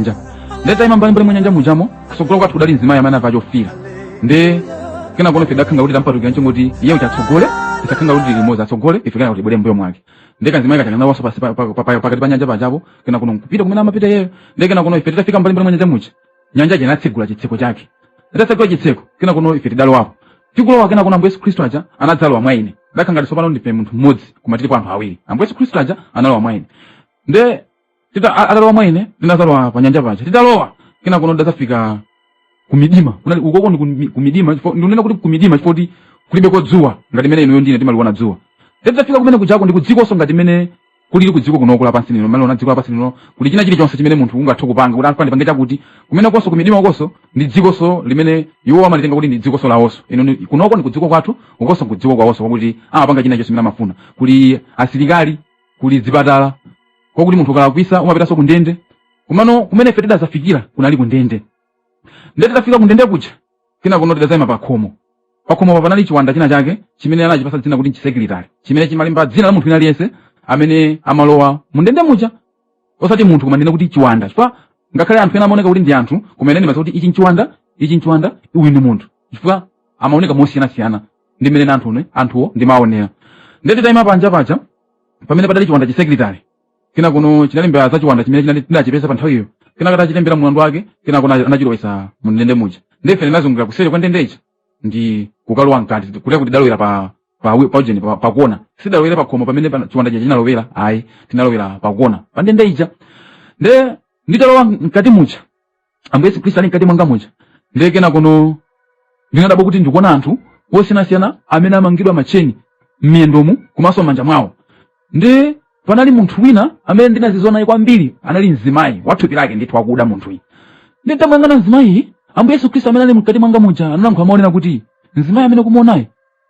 nja nde titaima mbali mbali mwa nyanja mujamo kusogolo kwathu kudali mzimayi amene anavala chofiira nde kenakono ife tidakhala ngati tampatukira choncho kuti iye kuti atsogole isakhale ngati limodzi atsogole ife kenako tibwere m'mbuyo mwake nde kamzimayi kaja kanalowanso pansi pa- pa- pa- pa- pakati pa nyanja pajapo kenakono kupita kumene amapita iyeyo nde kenakono ife titafika mbali mbali mwa nyanja muja nyanja ija inatsegula chitseko chake itatsegula chitseko kenakono ife tidalowapo tikulowa kenakono ambuye yesu khristu aja anadzalowa mwa ine ndakhala ngati tsopano ndife munthu mmodzi koma tilipo anthu awiri ambuye yesu khristu aja analowa mwa ine nde tita- a- atalowa mwa ine tinadzalowa pa nyanja paja titalowa kenako ndadzafika kumidima kunali ukoko ndi kumi- kumidima chifukwa- ndikunena kuti kumidima chifukwa kuti kulibeko dzuwa ngati mene inuyo ndine timaliona dzuwa titafika kumene kujako ndi kudzikonso ngati mene kulili kudziko kunoku lapansi lino mmene umaliona dziko lapansi lino kuli china chilichonse chimene munthu ungathe kupanga kuti afune apange chakuti kumenekonso kumidima ukonso ndi dzikonso limene iwo amalitenga kuti ndi dzikonso lawonso ino ni- kunoko ndi kudziko kwathu ukonso kudziko kwawonso kwakuti amapanga china chonse chimene amafuna kuli asilikali kuli zipatala kwakuti munthu ukalakwisa umapitanso ku ndende komano kumene ife tidadzafikira kunali ku ndende ndiye titafika kundende kuja kenakono tidadzayima pa khomo pa khomopa panali chiwanda china chake chimene anachipatsa dzina kuti nchisekilitali chimene chimalemba dzina la munthu wina aliyense amene amalowa mundende muja osati munthu koma ndikunena kuti chiwanda chifukwa ngakhale anthu ena amaoneka kuti ndi anthu koma ine ndimadziwa kuti ichi nchiwanda ichi nchiwanda uyu ndi munthu chifukwa amaoneka mosiyanasiyana ndi mmene anthu one anthuwo ndimaonera ndiye titayima panja paja pamene padali chiwanda chisekilitali kenakono chinalembera za chiwanda chimene chinali tinachipeza pa nthawiyo kenaka atachilembera mlandu wake kenako na- anachilowetsa mu ndende muja nde ife tinazungulira kuseri kwa ndende ija ndi kukalowa mkati kutheka kuti tidalowera pa pa wi- pa ujeni pa- pakona sitidalowere pa khomo pamene pa- chiwanda chija chinalowera ayi tinalowera pakona pa ndende ija nde nditalowa mkati muja ambuye yesu khristu ali mkati mwanga muja ndiye kenakono ndinadabwa kuti ndikuona anthu osiyanasiyana amene amangidwa matcheni m'miyendomu komanso m'manja mwawo nde panali munthu wina amene ndinazizwa naye kwambiri anali mzimayi wathupi lake ndithu wakuda munthuyi nde nditamuyang'ana mzimayiyi ambuye yesu khristu amene ali mkati mwanga muja analankhula amanena kuti mzimayi amene ukumuonayi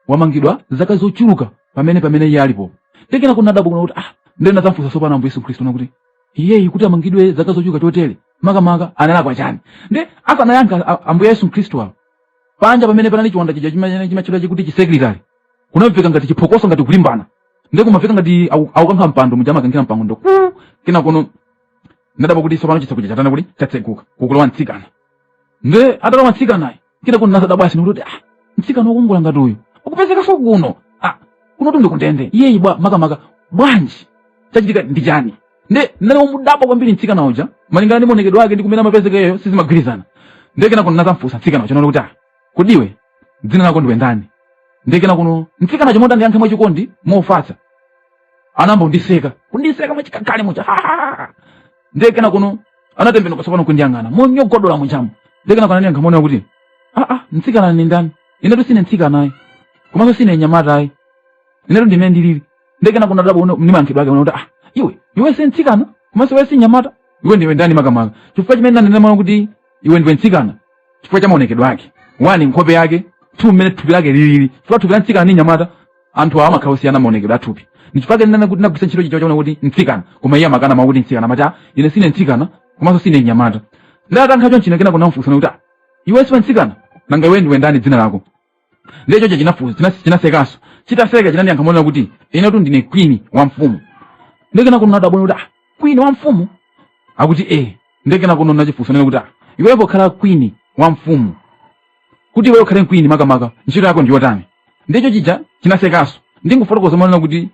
wamangidwa zaka zochuluka pamene pamene iye alipo nde kenakono ndinadabwa kunena kuti ah ndiye ndinadzamfunsa tsopano ambuye yesu khristu kunena kuti iyeyi kuti amangidwe zaka zochuluka chotere makamaka analakwa chani nde asanayankhe a- ambuye yesu khristu awo panja pamene panali chiwanda chija chimene chimatchedwa kuti chisekretary kunamveka ngati chiphokoso ngati kulimbana ndi kumamveka ngati aku- akukankha mpando muja amakankhira mpando nde kenakono ndinadabwa kuti tsopano chitseko chatana kuti chatseguka kukulowa mtsikana nde atalowa mtsikanayi kena kuno nazadabwa sono kuti ah mtsikana wokongola ngati uyu ukupezeka so kuno ah kunotu nde kundende iyeyi bwa makamaka bwanji chachitika ndi chani nde ndinali womudabwa kwambiri mtsikana uja malingana ndi maonekedwe ake ndi kumene amapezeka iyeyo sizimagwirizana nde kena kuno nazamfunsa mtsikana uja nati kuti ah kodi iwe dzina lako ndiwe ndani nde kena kuno mtsikana uja moti andiyankhe mwachikondi mofatsa anayamba kundiseka kundiseka mwachikakali muja ndiye kena kuno anatembenuka tsopano kundiyang'ana monyogodola mujamo ndiye kena kuno aniyankha monena kuti aa mtsikana ni ndani inetu sine mtsikana ayi komanso sine nyamata ayi inetu ndimene ndilili ndiye kena kuno ndadabwa no ni mayankhidwe ake nakuti ah iwe iwe si mtsikana komanso iwe si nyamata iwe ndiwe ndani makamaka chifukwa chimene nanena monena kuti iwe ndiwe mtsikana chifukwa cha maonekedwe ake wani nkhope yake two mmene thupi lake lilili chifukwa thupi la mtsikana ni nyamata anthu awa amakhala osiyana maonekedwe athupi ndichifake ndinanena kuti ndagwiritsa ntchito chi- mawu onena kuti mtsikana koma iye amakana mawu oti mtsikana amati "Ah, ine sine mtsikana komanso sine mnyamata nde atayankha choncho nde kenako ndamfunsa monena kuti "Ah, iwe siwe mtsikana nanga iwe ndiwe ndani dzina lako ndiye choncho chinafu- china- chinasekanso chitaseka chinandiyankha monena kuti inetu ndine kwini wa mfumu ndiye kenako ndinadabwa kuti "Ah, kwini wa mfumu akuti ee ndiye kenako ndinachifunsa monena kuti "Ah, iwe pokhala kwini wa mfumu kuti iwe ukhale kwini makamaka ntchito yako ndi yotani ndiye chija chinasekanso ndingofotokoza monena kuti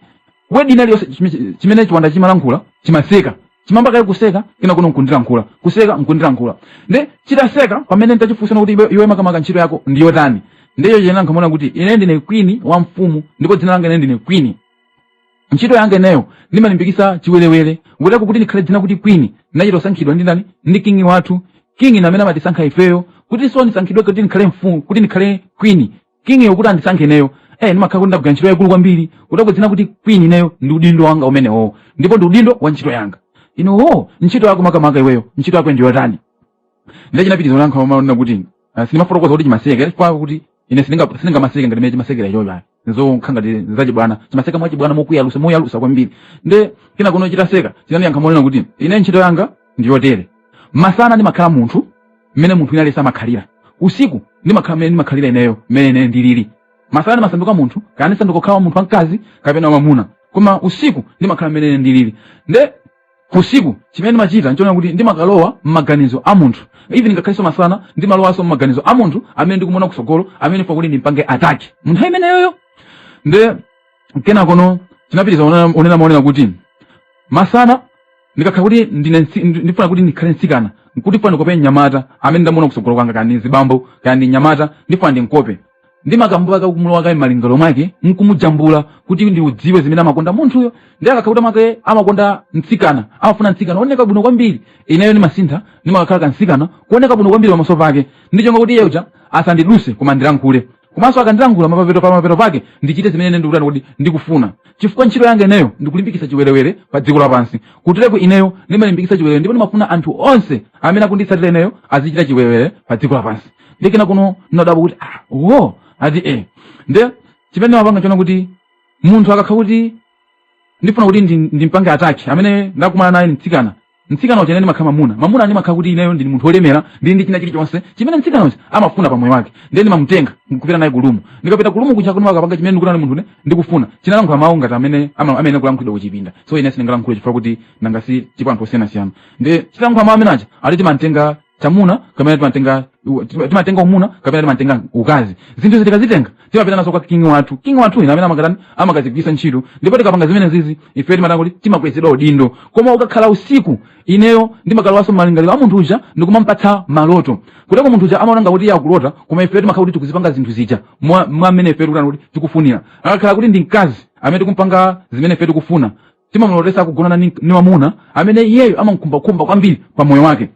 wedi ina iliyonse chime- chimene chiwanda chimalankhula chimaseka chimayamba kaye kuseka kena kuno nkundilankhula kuseka nkundilankhula nde chitaseka pamene ndachifunsa monena kuti iwe, iwe makamaka ntchito yako ndi yotani ndiye chinayankha monena kuti ine ndine kwini wa mfumu ndipo dzina langa ine ndine kwini ntchito yanga ineyo ndimalimbikisa chiwerewere nkuteko kuti ndikhale dzina kuti queen ndinachita kusankhidwa ndi ndani ndi kingi wathu kingi ndi amene amatisankha ifeyo kuti so ndisankhidwe kuti ndikhale mfumu kuti ndikhale queen kingiyo kuti andisankhe ineyo eh ndimakhala kuti ndagwira ntchito yaikulu kwambiri kuteko dzina kuti queen ineyo ndi udindo wanga umenewo ndipo ndi udindo wa ntchito yanga ndiye oo ntchito yako makamaka iweyo ntchito yako ndiyotani ndiye chinapitiriza kuyankha monena kuti ah, sindimafotokoza kuti chimaseka chifukwa kuti ine sindinga- sindingamaseke ngati mene chimasekera ichocho ayi nizokhala ngati nizachibwana chimaseka mwachibwana mokuyalusa moyalusa kwambiri nde kena kuno chitaseka chinaniyankha monena kuti ine ntchito yanga ndi yotere masana ndimakhala munthu mmene munthu ina aliyense amakhalira usiku ndimakhala mmene ndimakhalira ineyo mmene ine ndilili masana ndimasanduka munthu kaya ndisanduka kukhala munthu wamkazi kapena wamamuna koma usiku ndimakhala mmene ine ndilili nde usiku chimene ndimachita nchonena kuti ndimakalowa m'maganizo a munthu even ngakhalenso masana ndimalowanso m'maganizo a munthu amene ndikumuona kutsogolo amene ndifuna kuti ndimpange ataki munthu ameneyoyo nde kenakono chinapitiriza kunena- kunena monena kuti masana ndikakhala kuti ndine mtsi- ndi- ndifuna kuti ndikhale mtsikana nkuti ndifuna ndikope mnyamata amene ndamuona kutsogolo kwanga kaya ndi mzibambo kaya ndi mnyamata ndifuna ndinkope ndimakayamba kumulowa kaye m'malingaliro mwake nkumujambula kuti ndidziwe zimene amakonda munthuyo nde akakha kuti mwake amakonda mtsikana amafuna mtsikana ooneka bwino kwambiri ineyo ndimasintha ndimakakhala kamtsikana kooneka bwino kwambiri pamaso pake ndi cholinga kuti iye uja asandidutse koma ndilankhule komanso akandilankhula mapapeto pa mapeto pake ndichite zimene ine ndikutani kuti ndikufuna chifukwa ntchito yanga ineyo ndikulimbikitsa chiwerewere pa dziko lapansi kutereku ineyo ndimalimbikitsa chiwerewere ndipo ndimafuna anthu onse amene akunditsatira ineyo azichita chiwerewere pa dziko lapansi ndi kena kuno ndinadabwa kuti ah wo ati eh nde chimene timapanga chonena kuti munthu akakha kuti ndifuna kuti ndi- ndimpange ataki amene ndakumana naye mtsikana mtsikana uja ndimakha mamuna mamuna ndimakha kuti ineyo ndili munthu wolemera ndili ndi china chilichonse chimene mtsikana uja amafuna pa moyo wake ndiye ndimamutenga nkupita naye kulumu ndikapita kulumu kuja ndimakapanga chimene ndikutana ndi munthu ine ndikufuna chinalankhula mawu ngati amene ama- amene amalankhulidwa kuchipinda so ine sindingalankhule chifukwa kuti nanga si tipo anthu osiyanasiyana ndi chinalankhula mawu amene aja ali timantenga chamuna kapena timatenga u- tima- timatenga umuna kapena timatenga ukazi zinthu izi tikazitenga timapita nazo kwa kingi wathu kingi wathu ndi amene amakatani amakazigwisa ntchito ndipo tikapanga zimenezizi ife timatani kuti timakwezedwa udindo koma ukakhala usiku ineyo ndimakalowanso m'malingaliro a munthu uja ndikumampatsa maloto kuteko munthu uja amaona ngati iye akulota koma ife timakhala kuti tikuzipanga zinthu zija mwa mwa mmene ife tikutani kuti tikufunira akakhala kuti ndi mkazi amene tikumpanga zimene ife tikufuna timamulotesa kugonana ni, ni wamuna amene iyeyo amamkhumbakhumba kwambiri pa moyo wake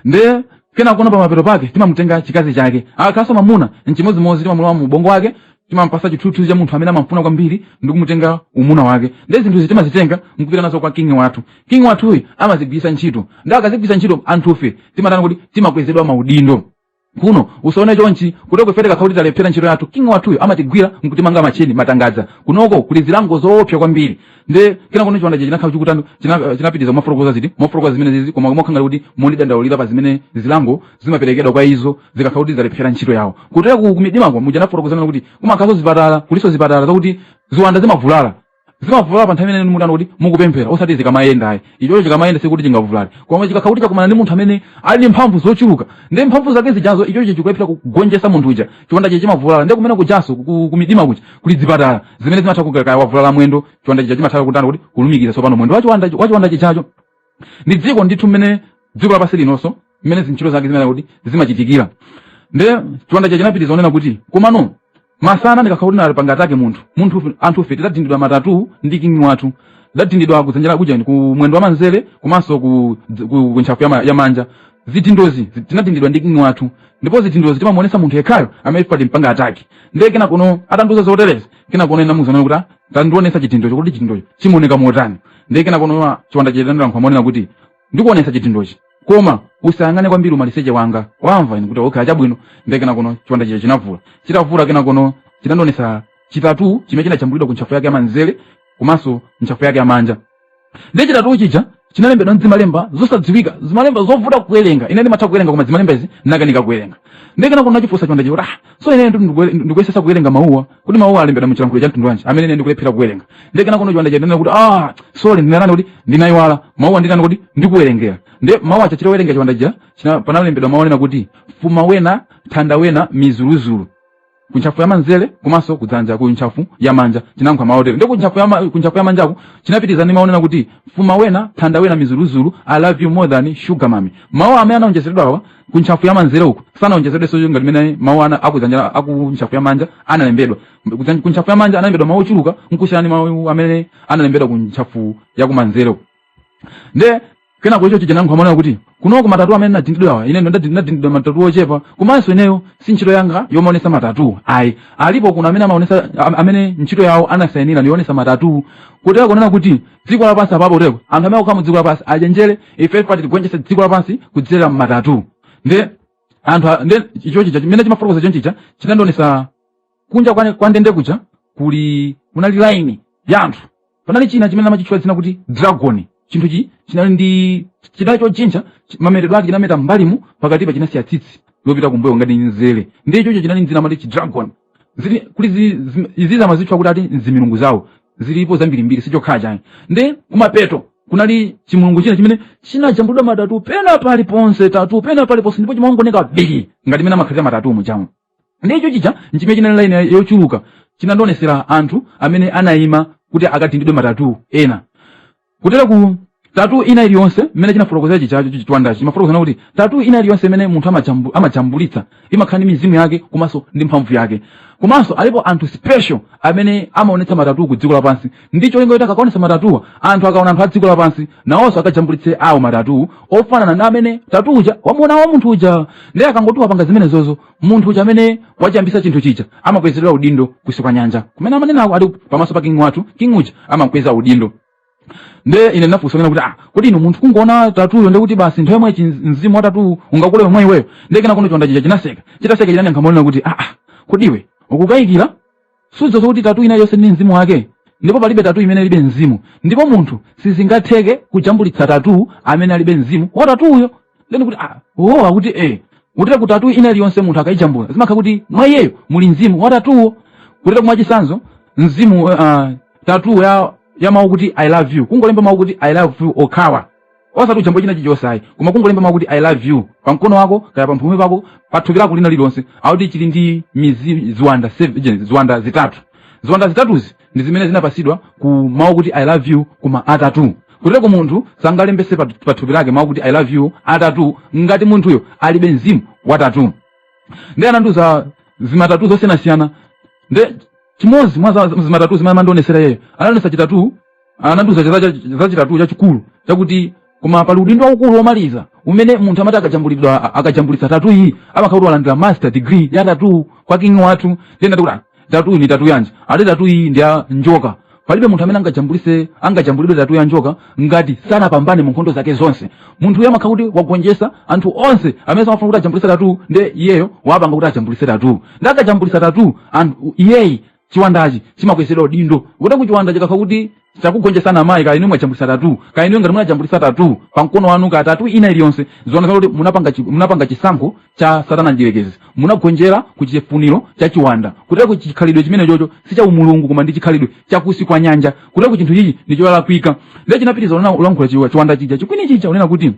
nde kenakuno pamapeto pake timamutenga chikazi chake akakhalanso mamuna nchimodzimodzi timamulowa mu ubongo mwake timampasa chithunzi cha munthu amene amamfuna kwambiri ndi kumutenga umuna wake nde zinthuzi timazitenga nkupita nazo kwa kingi wathu kingi wathuyi amazigwiritsa ntchito nde akazigwiritsa ntchito anthufe timatani kuti timakwezedwa maudindo kuno usaone chonchi kuteko ife tikakhala kuti talephera ntchito yathu king wathuyo amatigwira nkutimanga macheni matangadza kunoko kuli zilango zoopsa kwambiri nde kenakuno chiwanda chinakhala chikutani china- chinapitiriza kufotokoza ziti kufotokoza zimenezizi koma mokhala ngati mondidandaulira pa zimene zilango zimaperekedwa kwa izo zikakhala kuti zalephera ntchito yawo kutereku kumidimako muja nafotokozera kuti kumakhalanso zipatala kulinso zipatala zakuti ziwanda zimavulala zimavulala pa nthawi imene mukutani kuti mukupemphera osati zikamayenda ayi ichocho chikamayenda sikuti chingavulale koma chikakhala kuti chakumana ndi munthu amene ali ndi mphamvu zochuluka ndi mphamvu zake zijazo ichocho chikulephera kugonjetsa munthu uja chiwanda chija chimavulala nde kumene kujaso ku- kumidima kuja kuli zipatala zimene zimatha kuti kaya wavulala mwendo chiwanda chija chimatha kutani kuti kulumikiza tsopano mwendo wachiwanda wachiwanda chijacho ndi dziko ndithu mmene dziko lapansi lilinso mmene zintchito zake zimene kuti zimachitikira nde chiwanda chija chinapitiriza kunena kuti komano masana ndikakhala kuti nampanga attack munthu munthu anthufe tidadindidwa matatu ndi kingi wathu tidadindidwa kudzanja la kumanja ku mwendo wa manzere komanso ku, ku, ku ntchafu ya, ma, ya manja zidindozi zi- tinadindidwa ndi kingi wathu ndipo zidindozi timamuonesa munthu yekhayo amene tampanga attack ndiye kenakuno atandiuza zoterezi kenakuno ndinamuuza kuti "Ah, tandionesa chidindocho kuti chidindocho chimaoneka motani ndiye kenakono chiwanda chinayankha monena kuti ndikuonesa chidindochi koma usayang'ane kwambiri umaliseche wanga wamva ine kuti okay chabwino ndiye kenakono chiwanda chija chinavula chitavula kenakono chinandionesa chi tattoo chimene chinajambulidwa ku ntchafu yake yamanzere komanso ntchafu yake yamanja ndiye chi tattoo chija chinalembedwa mzimalemba zosadziwika zimalemba zovuta kuwerenga ine ndimatha kuwerenga koma zimalemba izi ndinakanika kuwerenga ndiye kenako ndinachifunsa chiwanda chija kuti ah so ine ndikuyesesa kuwerenga mawuwa kodi mawuwa alembedwa mu chilankhulo cha mtundu wanji amene ine ndikulephera kuwerenga ndiye kenakono chiwanda chinanena kuti ah sorry ndinanani kuti ndinayiwala mawuwa ndinani kuti ndikuwerengera ndiye mawu aja chitawerenga chiwanda chija china panalembedwa mawu onena kuti fuma wena thanda wena mizuluzulu ku ntchafu ya manzere komanso kudzanja ku ntchafu ya manja chinayankha motere ndiye ku ntchafu ya ma- ku ntchafu ya manjaku chinapitiriza ndi mawu onena kuti fuma wena thanda wena mizuluzulu i love you more than sugar mami mawu amene anaonjezeredwa awa ku ntchafu ya manzere uku sanaonjezedwenso ngati mmene mawu a akudzanja aku ntchafu ya manja analembedwa Kudzan- ku ntchafu ya manja analembedwa mawu ochuluka nkusiyana ndi mawu amene analembedwa ku ntchafu ya kumanzere uku nde kenako icho chija chinayankha monena kuti kunoko ma tattoo amene nadindidwawa ine ndo ndadi- nadindidwa ma tattoo ochepa komanso ineyo si ntchito yanga yomaonesa ma tattoo ayi alipo kuno amene amaonesa am- amene ntchito yawo anasayinira ndi yoonesa ma tattoo kutereko kunena kuti dziko lapansi apapo kutereko anthu amene akukhala mu dziko lapansi achenjere ife pati tigonjetse dziko lapansi kudzera ma tattoo ndi anthu a- ndi icho chija chimene chimafotokoza chonchi chija chinandionesa kunja kwa kwa ndende kuja kuli kunali laini ya anthu panali china chimene amachitchula dzina kuti dragon chinthu chi chinali ndi chinali chojinja chi- mametedwe ake chinameta mbalimu pakatipa chinasiya tsitsi lopita kumbuyo ngati nzere ndi ichocho chinali ndi dzina amati chi dragon zili kuli zi- zi- izizi amazitcha kuti ati nzimilungu zawo zilipo zambirimbiri sichokhachi ayi nde kumapeto kunali chimulungu china chimene chinajambulidwa ma tattoo pena paliponse tattoo pena paliponse ndipo chimaoneka bigi ngati mmene amakhalira ma tattoo mujamo ndicho chija nchimene chinali laini yochuluka chinandionesera anthu amene anayima kuti akadindidwe ma tattoo ena kutereku tattoo ina iliyonse mmene chinafotokozera chijacho chichiwandachi chimafotokoza kunena kuti tattoo ina iliyonse imene munthu amajambu- amajambulitsa imakhala ndi mizimu yake komanso ndi mphamvu yake komanso alipo anthu special amene amaonetsa ma tattoo ku dziko lapansi ndi cholinga kuti akaonetsa ma tattoowa anthu akaona anthu a dziko lapansi nawonso akajambulitse awo ma tattoo ofanana ndi amene tattoo uja wamuona wa munthu uja ndiye akangoti wapanga zimenezozo munthu uja amene wachiyambisa chinthu chija amakwezedwa udindo kunsi kwa nyanja kumene amanenako ali pamaso pa king wathu king uja amakweza udindo nde ine ndinafunsa kunena kuti ah kodi inu munthu kungoona tattooyo ndi kuti basi nthawi yomwe chin- mzimu wa tattoowu ungakulowe iweyo nde kenakono chiwanda chija chinaseka chitaseka chinayankha monena kuti ah ah kodi iwe ukukayikira sudzoza kuti tatu ina iliyonse ili ndi mzimu wake ndipo palibe tatu imene ilibe mzimu ndipo munthu sizingatheke kujambulitsa tatu amene alibe mzimu wa tatuyo then kuti ah, oh akuti eh kuteroko tatu ina iliyonse munthu akayijambula zimakhala kuti mwa iyeyo muli mzimu wa tatuyo kuteroko mwachitsanzo mzimu uh, tatu ya ya mawu kuti i love you kungolemba mawu kuti i love you okhawa osati ujambo china chilichonse ayi koma kungolemba mawu kuti i love you pa mkono wako kaya pa mphumi pako pa thupi lako lina lililonse akuti chili ndi mizimu ziwanda seven- je, ziwanda zitatu ziwanda zitatuzi ndi zimene zinapasidwa ku mawu kuti i love you kuma tatu kuteroko munthu sangalembese pa pa thupi lake mawu kuti i love you a tatu ngati munthuyo alibe mzimu wa tatu nde anandiuza zimatatu zosiyanasiyana nde chimodzi mwa za- zimatatu zimene amandionesera iyeyo anandionesa chitatu anandiuza zachitatu chachikulu chakuti koma pali udindo waukulu womaliza umene munthu amati akajambulidwa akajambulitsa tatu iyi amakhala kuti walandira master degree ya tatu kwa kingi wathu then nati kuti "Ah, tatu iyi ni tatu yanji ati tatu iyi ndi ya njoka palibe munthu amene angajambulise angajambulidwe tatu ya njoka ngati sanapambane mu nkhondo zake zonse munthu uyo amakhala kuti wagonjesa anthu onse amene samafuna kuti ajambulise tatu nde iyeyo wapanga kuti ajambulise tatu nde akajambulisa tatu munthu uyuyu chiwandachi chimakwezedwa udindo kuteroko chiwanda chikakhala kuti chakugonjetsani amayi kaya inu mwajambulitsa tatu kaya inu ngati munajambulitsa tatu pa mkono wanu kaya tatu ina iliyonse zikuoneka kuti munapanga chi- munapanga chisankho cha satana mdyerekezi munagonjera ku chifuniro cha chiwanda kuteroko chikhalidwe chimenechocho si cha umulungu koma ndi chikhalidwe cha kunsi kwa nyanja kuteroko chinthu ichi ndi cholakwika ndiye chinapitiriza ulankhula chiwanda chija chikwini chija unena kuti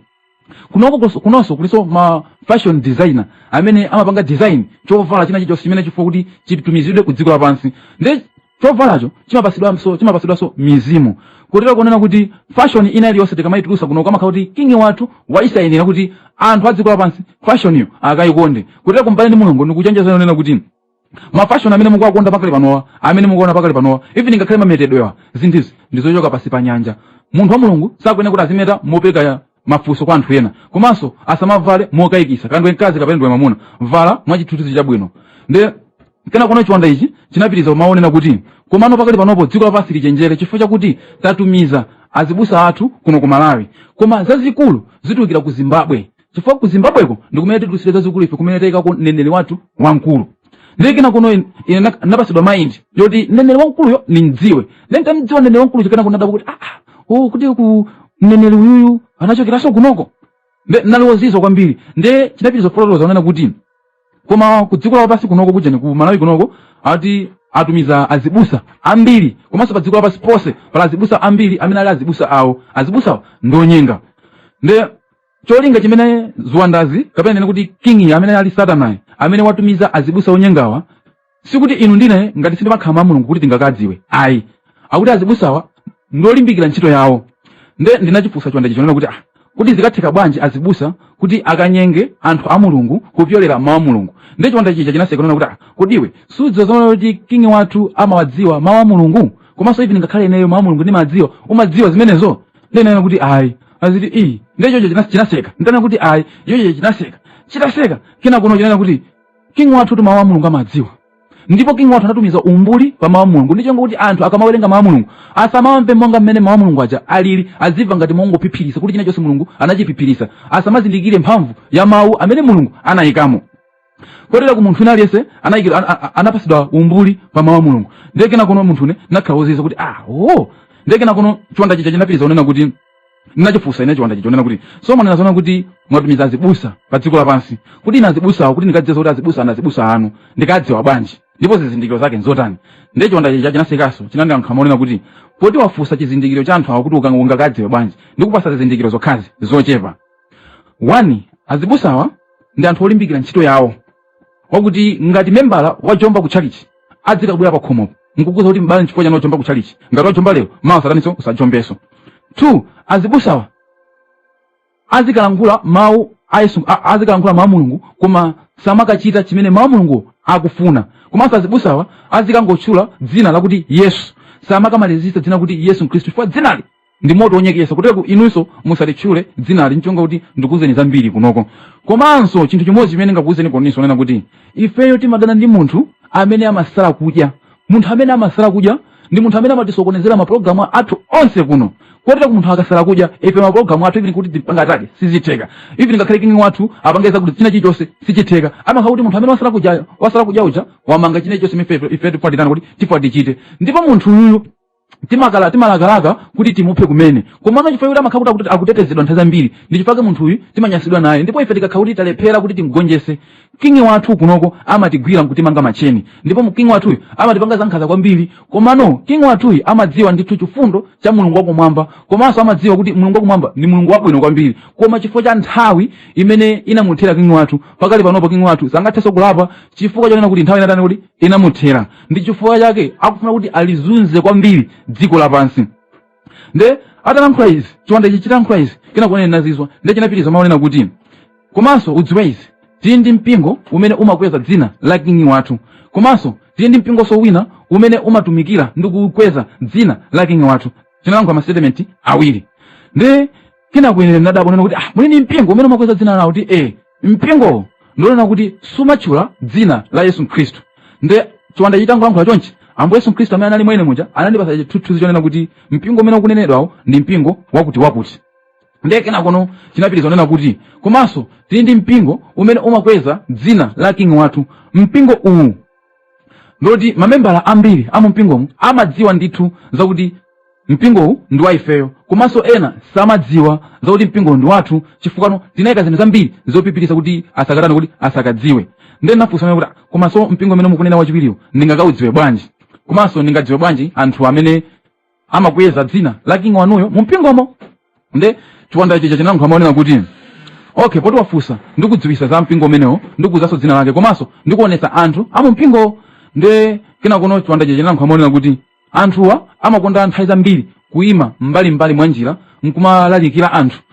kunoko koso- kunonso kulinso ma fashion designer amene amapanga design chovala china chilichonse chimene chikufunika kuti chitumizidwe ku dziko lapansi nde chovalacho chimapasidwanso chimapasidwanso mizimu kotero kunena kuti fashion ina iliyonse tikamaitulusa kuno kumakhala kuti kingi wathu waisainira kuti anthu a dziko lapansi fashoniyo akayikonde kuteroko mbale ndi mlongo ndikuchenjeza kunena kuti mafashoni amene mukuwakonda pakali panowa amene mukuona pakali panowa even ngakhale mametedwewa zinthuzi ndizochoka pasi pa nyanja munthu wa mulungu sakuyenera kuti azimeta mopereka mafunso kwa anthu ena komanso asamavale mokayikisa kaya ndiwe mkazi kapena ndiwe mamuna vala mwachithunzi chabwino nde kenakono chiwanda ichi chinapitiriza kumanena kuti komano pakali panopo dziko lapansi lichenjere chifukwa chakuti tatumiza azibusa athu kuno ku malawi koma zazikulu zitulukira ku zimbabwe chifukwa ku zimbabweko ndikumene titulusire zazikulu ife kumene tayikako mneneri wathu wamkulu ndiye kenakono in- ine nak- napatsidwa mind yoti mneneri wamkuluyo ndimdziwe ndiye ntamdziwa mneneri wamkuluyo kenako nadabwa kuti aa oh, kuteroko mneneri uyuyu anachokeranso kunoko nde nali wozizwa kwambiri nde chinapitiriza kufotokoza kunena kuti koma ku dziko lapansi kunoko kujani ku malawi kunoko ati atumiza azibusa ambiri komanso pa dziko lapansi ponse pali azibusa ambiri amene ali azibusa awo azibusawo ndi onyenga nde cholinga chimene ziwandazi kapena ninene kuti kingi amene ali satanayi amene watumiza azibusa onyengawa sikuti inu ndine ngati si ndi makhala a mulungu kuti tingakadziwe ayi akuti azibusawa ndiolimbikira ntchito yawo nde ndinachifunsa chiwanda chija kunena kuti ah, kuti zikatheka bwanji azibusa kuti akanyenge anthu a mulungu kupyolera mawu a mulungu nde chiwanda chija chinaseka kunena kuti ah, kodi iwe sudziwa zomwe kuti kingi wathu amawadziwa mawu a mulungu komanso even ngakhale ineyo mawu a mulungu ndimawadziwa umadziwa zimenezo ndinena kuti ayi aziti iyi nde chocho china- chinaseka ndinena kuti ayi ichocho chinaseka chitaseka kenakono chinena kuti king wathutu mawu a mulungu amawadziwa ndipo king wathu anatumiza umbuli pa mawu a mulungu ndicho kuti anthu akamawerenga mawu a mulungu asamawamve monga mmene mawu a mulungu aja alili azimva ngati mongophiphiritsa kuti china chonse mulungu anachiphiphiritsa asamazindikire mphamvu ya mawu amene mulungu anayikamo kotera ku munthu wina aliyense anayikira an- a- anapasidwa umbuli pa mawu a mulungu ndiye kenakono munthune nakhala ozizwa kuti ah oh ndiye kenakono chiwanda chija chinapitiriza kunena kuti ndinachifunsa ine chiwanda chija kunena kuti so mwanena zoona kuti mwatumiza azibusa pa dziko lapansi kuti ine azibusawo kuti ndikadziwe kuti azibusa awa ndi azibusa anu ndikadziwa bwanji ndipo zizindikiro zake nzotani ndiye chiwanda chija chinasekaso chinandira nkhama kunena kuti poti wafunsa chizindikiro cha anthu awo kuti ukanga- ungakadziwe bwanji ndikupasa zizindikiro zokhazi zochepa 1 azibusawa ndi anthu olimbikira ntchito yawo wakuti ngati membala wajomba ku tchalitchi adzikabwera pa khomopo nkukuuza kuti mbale nchifukwa chani wajomba ku tchalitchi ngati wajomba lero mawa usataniso usajombeso 2 azibusawa azikalankhula mawu a yesu a- azikalankhula mawu a mulungu koma samakachita chimene mawu a mulungu akufuna komanso azibusawa azikangotchula dzina lakuti yesu samakamalizitsa dzina lakuti yesu khristu chifukwa dzinali ndi moto wonyeketsa kotero kuti inunso musalitchule dzinali ncholinga kuti ndikuwuzeni zambiri kunoko komanso chinthu chimodzi chimene ndingakuwuzeni kunonso kunena kuti ifeyo timadana ndi munthu amene amasala kudya munthu amene amasala kudya ndi munthu amene amatisokonezera mapulogalamu athu onse kuno kotero kuti munthu akasala kudya ife mapulogalamu athu even kuti tipange atani sizitheka even ngakhale kingi wathu apange zakuti china chilichonse sichitheka amakhala kuti munthu amene wasala kudyayo wasala kudya uja wamanga china chilichonse ife ife timafuna titani kuti timafuna tichite ndipo munthu uyuyu timalaka- timalakalaka kuti timuphe kumene komano chifukwa kuti amakhala kuti akuti- akutetezedwa nthawi zambiri ndi chifukwa munthu uyu timanyasidwa naye ndipo ife tikakhala kuti talephera kuti timgonjese kingi wathu kunoko amatigwira nkutimanga macheni ndipo mu- kingi wathuyu amatipanga zankhaza kwambiri komano kingi wathuyu amadziwa ndithu chifundo cha mulungu wakumwamba komanso amadziwa kuti mulungu wakumwamba ndi mulungu wabwino kwambiri koma chifukwa cha nthawi imene inamuthera kingi wathu pakali panopo kingi wathu sangathenso kulapa chifukwa chonena kuti nthawi inatani kuti inamuthera ndi chifukwa chake akufuna kuti alizunze kwambiri dziko lapansi nde atalankhula izi chiwanda ichi chitankhula izi kenako ine nazizwa nde chinapitiriza mau onena kuti komanso udziwe izi tili ndi mpingo umene umakweza dzina la kingi wathu komanso tili ndi mpingonso wina umene umatumikira ndi kukweza dzina la kingi wathu chinalankhula ma statement awiri nde kenako ine nadabwa nena kuti ah muli ndi mpingo umene umakweza dzina lawo kuti eh mpingowo ndi wonena kuti sumatchula dzina la yesu khristu nde chiwanda chitangolankhula chonchi ambuye yesu khristu amene anali mwa ine muja anandipasa chithunzi chonena kuti mpingo umene ukunenedwawo ndi mpingo wakuti wakuti ndiye kenakono chinapitiriza kunena kuti komanso tili ndi mpingo umene umakweza dzina la king wathu mpingo uwu ngoti mamembala ambiri a mumpingomu amadziwa ndithu zakuti mpingowu ndi wa ifeyo komanso ena samadziwa zakuti mpingowu ndi wathu chifukwa tinayika zinthu zambiri zophiphirisa kuti asakatani kuti asakadziwe ndiye ndinafunsa kuti komanso mpingo umene mukunena wachiwiriwo ndingakaudziwe bwanji komanso ndingadziwe bwanji anthu amene amakweza dzina la king wanuyo mu mpingomo nde chiwanda chija chinalankhula mau onena kuti okay poti wafunsa ndikudziwisa za mpingo umenewo ndikuuzanso dzina lake komanso ndikuonesa anthu amu mpingowo nde kenakono chiwanda chija chinalankhula mau onena kuti anthuwa amakonda nthawi zambiri kuima mbalimbali mwa njira nkumalalikira anthu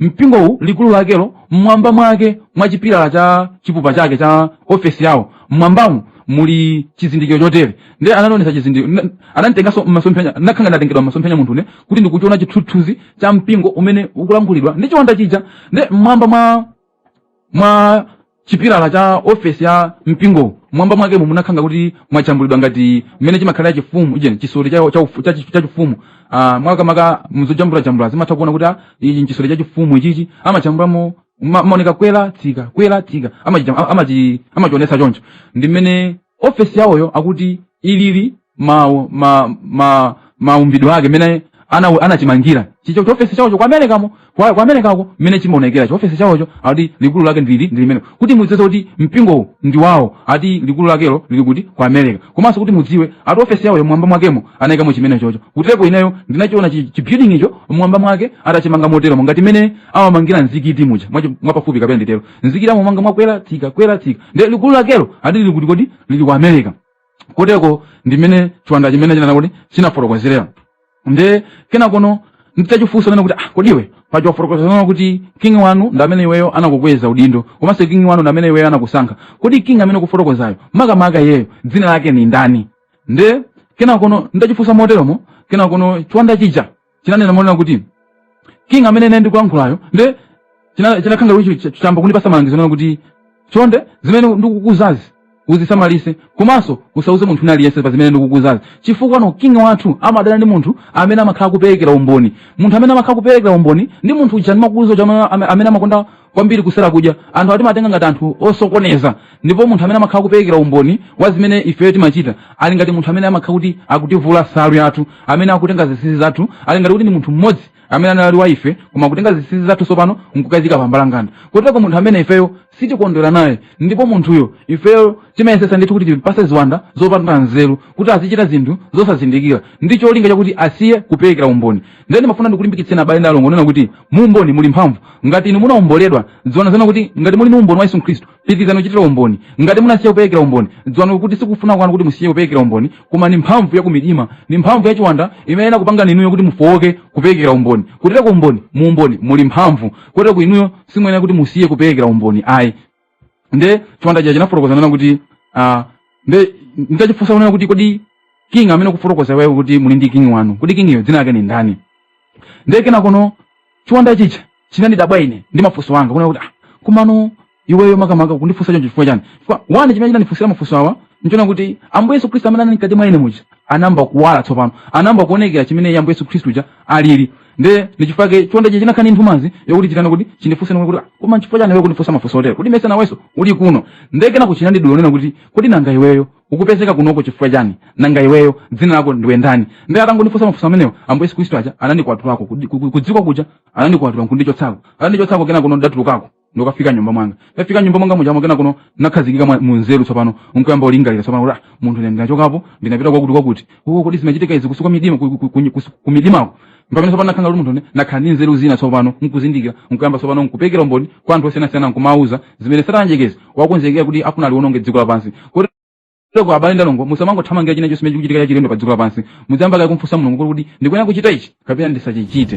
mpingowu likulu lakelo mmwamba mwake mwa chipilala cha chipupa chake cha ofesi yawo mmwambamo muli chizindikiro chotere ndiye anandionetsa chizindikiro ananditenganso mmasomphenya nakhala ngati ndatengedwa mmasomphenya muntune kuti ndikuchiona chithunzi cha mpingo umene ukulankhulidwa ndi chiwanda chija ndiye mmwamba mwa mwa chipilala cha ofesi ya mpingo mwamba mwake mo munakhala ngati kuti mwajambulidwa ngati mmene chimakhalira chifumu uje chisoti cha cha ufu- cha chi- cha chifumu ah makamaka muzojambula jambula timatha kuona kuti ah, ichi nchisoti cha chifumu ichichi amajambulamo ma- maoneka kwela tsika kwela tsika amachi amachi amachionesa choncho ndi mmene ofesi yawoyo akuti ilili ma ma ma maumbidwe ake mene ana anachimangira chimenecho chiofesi chawocho kwa america mo kwa, kwa america ko mene chimaonekera chiofesi chawocho ati likulu lake ndili ndili mene kuti mudziwe kuti mpingo ndi wawo ati likulu lakelo lili kuti kwa america komanso kuti mudziwe ati ofesi yawoyo mwamba mwakemo anayikamo chimenechocho koteroko ineyo ndinachiona chi- chi building icho mwamba mwake atachimanga motero ngati mene amamangira mzikiti muja mwachi- mwapafupi kapena nditero nzikiti amamanga mwakwera tsika kwera tsika nde likulu lakelo ati lili kuti kodi lili ku america koteroko ndimene chiwanda chimenechi chinana kuti chinafotokozerera nde kenakono nditachifunsa nena kuti ah, kodi iwe paja wafotokoza kunena kuti king wanu ndi amene iweyo anakukweza udindo komanso king wanu ndi amene iweyo anakusankha kodi king amene ukufotokozayo makamaka iyeyo dzina lake ndi ndani nde kenakono nditachifunsa moteromo kenakono chiwanda chija chinanena monena kuti king amene ine ndikulankhulayo nde china- chinakhala kuti ch- chamba kundipasa malangizo kunena kuti chonde zimene ndikukuuzazi uzisamalitse komanso usauze munthu wina aliyense pa zimene ndikukuuzazi chifukwano king wathu amadana ndi munthu amene amakhala kuperekera umboni munthu amene amakhala kuperekera umboni ndi munthu uja ndimakuuzani uja amene- amene amakonda kwambiri kusala kudya anthu awa timawatenga ngati anthu osokoneza ndipo munthu amene amakhala kuperekera umboni wa zimene ifeyo timachita ali ngati munthu amene amakhala kuti akutivula nsalu yathu amene akutenga zinsinsi zathu ali ngati kuti ndi munthu mmodzi amene anali wa ife koma akutenga zinsinsi zathu tsopano nkukazika pambalanganda kotero munthu amene ifeyo sitikondwera naye ndipo munthuyo ifeyo timayesetsa ndithu kuti timpatse ziwanda zopanda nzeru kuti azichita zinthu zosazindikira ndi cholinga chakuti asiye kuperekera umboni nde ndimafuna ndikulimbikitseni abale ndi alongo kunena kuti mu umboni muli mphamvu ngati inu munaomboledwa dziwani kuti ngati muli ndi umboni wa yesu khristu pitirizani kuchitira umboni ngati munasiya kuperekera umboni dziwani kuti sikufuna kwanu kuti musiye kuperekera umboni koma ni mphamvu ya kumidima ni mphamvu ya chiwanda imene inakupangani inuyo kuti mufowoke kuperekera umboni kuchitira umboni mu umboni muli mphamvu kotero kuti inuyo simuyenera kuti musiye kuperekera umboni ayi nde chiwanda chija chinafotokoza kunena kuti ah, nde nditachifunsa kunena kuti kodi king amene ukufotokoza iweyo kuti muli ndi king wanu kodi king uyo dzina lake ni ndani nde kenakono chiwanda chija chinandidabwa ine ndi mafunso anga kunena kuti ah, komano iweyo makamaka ukundifunsa choncho chifukwa chani chifukwa chani chimene chinandifunsira mafunso awa nchonena kuti ambuye yesu khristu amene anali mkati mwa ine muja anayamba kuwala tsopano anayamba kuonekera chimene ambuye yesu khristu aja alili nde ndichifukwa chake chiwanda chija chinakhala ndi nthumanzi yokuti chitani kuti chindifunse monena kuti "Ah, koma nchifukwa chani iwe ukundifunsa mafunso otero kuti ndimayesa nawenso uli kuno nde kenako chinandidula ponena kuti kodi nanga iweyo ukupezeka kunoko chifukwa chani nanga iweyo dzina lako ndiwe ndani nde chitangondifunsa mafunso amenewo ambuye yesu khristu aja anandikwatulako kudziko kuja anandikwatula nkundichotsako anandichotsako kenako ndatulukako ndikafika mnyumba mwanga ndafika mnyumba mwanga mujamo kenakono ndinakhazikika mwa- munzeru tsopano nkuyamba ulingalira tsopano kuti ah, munthu ine ndinachokapo ndinapita kwakuti kwakuti oh, kodi zimachitika izi kumidima ku- ku- ku- kusu- kumidimako mpamene tsopano ndinakhala ngati munthu ine ndinakhala ndi nzeru zina tsopano nkuzindikira nkuyamba tsopano nkuperekera umboni kwa anthu osiyanasiyana nkumawauza zimene satana mdyerekezi wakonzekera kuti akufuna aliwononge dziko lapansi kuti choncho abale ndi alongo musamangothamangira china chonse chikuchitika chachilendo pa dziko lapansi muziyamba kaye kumfunsa mulungu kuti kodi ndikuyenera kuchita ichi kapena ndisachichite